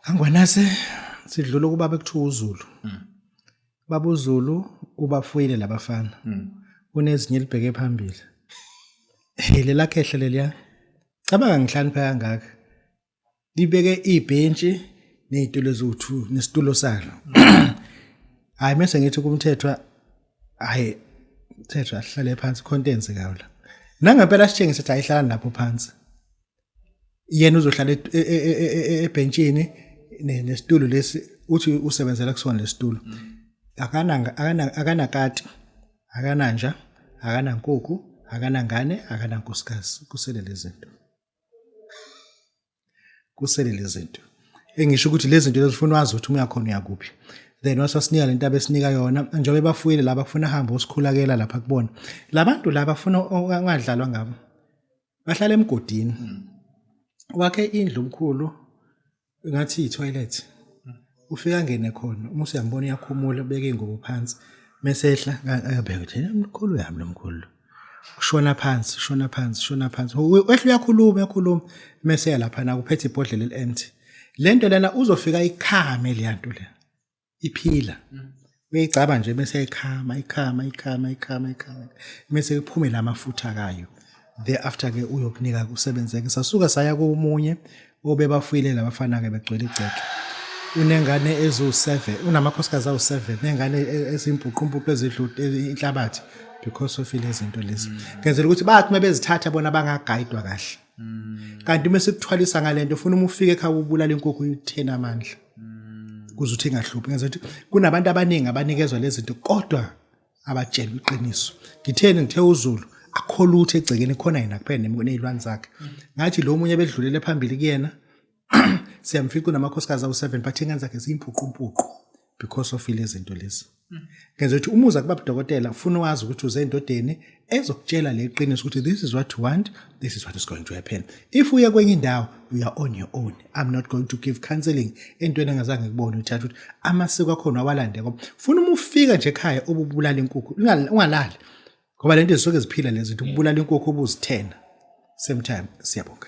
Angwanase sidlula ukuba bekuthiwa uZulu. Mm. Baba uZulu ubafuyile labafana. Mm. Unezinye libheke phambili. Hey lelakhe ehle leliya. Cabanga ngihlanipha kangaka. Libeke ibhentshi nezitulo zothu nesitulo salo. Hayi mase ngithi kumthethwa hayi thethwa hlale phansi contents kawo la. Nangempela sitshengise ukuthi ayihlala lapho phansi. yena uzohlala e- e- e- e- e- ebhentshini ne- nesitulo lesi uthi usebenzela kusona lesitulo akananga akana- akanakati akananja akanankukhu akanangane akanankosikazi kusele lezinto kusele lezinto engisho ukuthi lezinto lezifuna wazi ukuthi umuya khona uyakuphi then wasasinika lento abesinika yona njengoba bafuyile laba kufuna hambe usikhulakela lapha kubona labantu laba funa ongadlalwa ngabo bahlala emgodini mm. wakhe indlu omkhulu ngathi itoilet mm. ufika ngene khona uma usuyambona uyakhumula ubeke ingubo phansi mesehla abheke ukuthi mkhulu yami lomkhulu ushona phansi ushona phansi ushona phansi wehle uyakhuluma uyakhuluma mese lapha na kuphethe ibhodlela eliempty lento lena uzofika ikhame leyanto lena iphila mm. uyayicaba nje bese ikhama ikhama ikhama ikhama ikhama bese iphume lamafutha kayo thereafter ke uyokunika kusebenzeke sasuka saya komunye obebafuyile labafana ke begcwele igceke unengane ezu-7 unamakhosikazi awu-7 nengane e-, ezimbhuqumpuqu ezidlude inhlabathi because of lezi zinto lezi ngenzela ukuthi bathi uma bezithatha bona bangagayidwa kahle mm. kanti uma sikuthwalisa ngale nto ufuna uma ufike ekhaya ubulala inkukhu uyitheni amandla mm. kuze uthi ingahluphi ngenza ukuthi kunabantu abaningi abanikezwa lezi zinto kodwa abatshelwe iqiniso ngitheni ngithe uzulu akholutho egcekeni khona yena kuphela nezilwane zakhe ngathi lo munye bedlulele phambili kuyena siyamfica unamakhosikazi awu-seven but ingane zakhe ziyimpuqumpuqu because of ile zinto lezi hmm. ngenza ukuthi umuza kuba budokotela ufuna wazi ukuthi uze endodeni ezokutshela le qiniso ukuthi this is what you want this is what is going to happen if uye kwenye indawo you are on your own i'm not going to give counseling entweni engazange ngikubone uthatha ukuthi amasiko akhona awalande ngoba funa uma ufika nje ekhaya ububulala inkukhu ungalali ngoba le nto zisuke ziphila lezi zinto ubulala inkukhu ubuzithena same time siyabonga